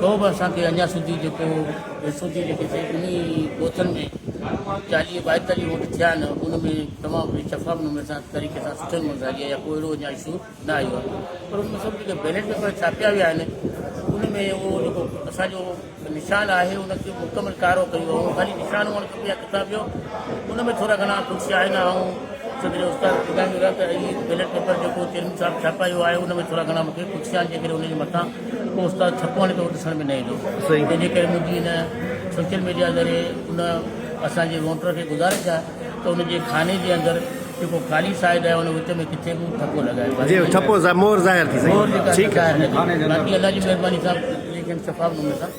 تو به اسان کي اڃا سڌي جيڪو ويسو ٿي جيڪي سي انهي ڳوٺن ۾ چاليهه ٻائيتاليهه ووٽ ٿيا آهن ان ۾ تمام گهڻي شفاف نموني سان طريقي سان سٺي نموني سان جي ڪو اهڙو اڃا اشو نه آيو آهي پر ان ۾ سڀ جيڪي بيلٽ پيپر ڇاپيا ويا آهن ان ۾ اهو جيڪو اسان جو نشان آهي ان کي مڪمل ڪارو ڪيو ويو خالي نشان هئڻ کپي يا ڪتاب ٻيو ان ۾ ٿورا گهڻا ڪجهه آهن آئون صدر استاد ٻڌائيندو رهيا ته هي بيلٽ پيپر جيڪو چيئرمين صاحب ڇاپايو آهي ان ۾ ٿورا گهڻا مون کي ڪجهه آهن جيڪڏهن ان جي مٿان ڪو استاد ڇپو آڻي ٿو ڏسڻ ۾ نه ايندو صحيح تنهنجي ڪري منهنجي هن سوشل ميڊيا ذريعي ان اسان جي ووٽر کي گذارش آهي ته ان جي خاني جي اندر جيڪو خالي سائيڊ آهي ان وچ ۾ ڪٿي به ڇپو لڳائي جي ڇپو مور ظاهر ٿي سگهي ٿي ٺيڪ آهي باقي الله جي مهرباني سان ليکن شفاف نموني سان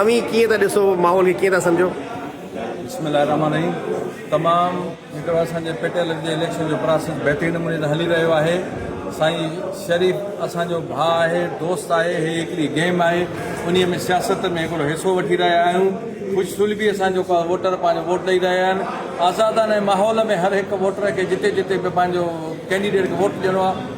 اوهين ڪيئن ٿا ڏسو ماحول کي ڪيئن ٿا سمجهو. بسم الله الرحمٰن الرحيم تمام هڪڙو اسان جي پٽيل جي اليڪشن جو پراسيس بهترين نموني سان هلي رهيو آهي سائين شريف اسان جو ڀاء آهي دوست آهي هي هڪڙي گيم آهي انهي ۾ سياست ۾ هڪڙو حصو وٺي رهيا آهيون خوش سلبي اسان جو ووٽر پنهنجو ووٽ ڏئي رهيا آهن آزادانه ماحول ۾ هر هڪ ووٽر کي جتي جتي به پنهنجو ڪينڊيڊيٽ کي ووٽ ڏيڻو آهي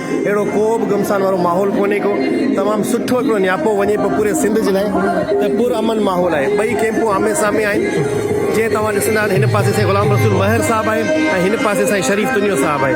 اهڙو ڪو به گمسان وارو ماحول ڪونهي ڪو تمام سٺو هڪڙو نياپو وڃي پيو پوري سنڌ جي لاء ته پر امن ماحول آهي ٻئي ڪيمپون آمي سامي آهن جيئن توهان ڏسندا ته هن پاسي سائين غلام رسول مهر صاحب آهي ۽ هن پاسي سائين شريف تنيو صاحب آهي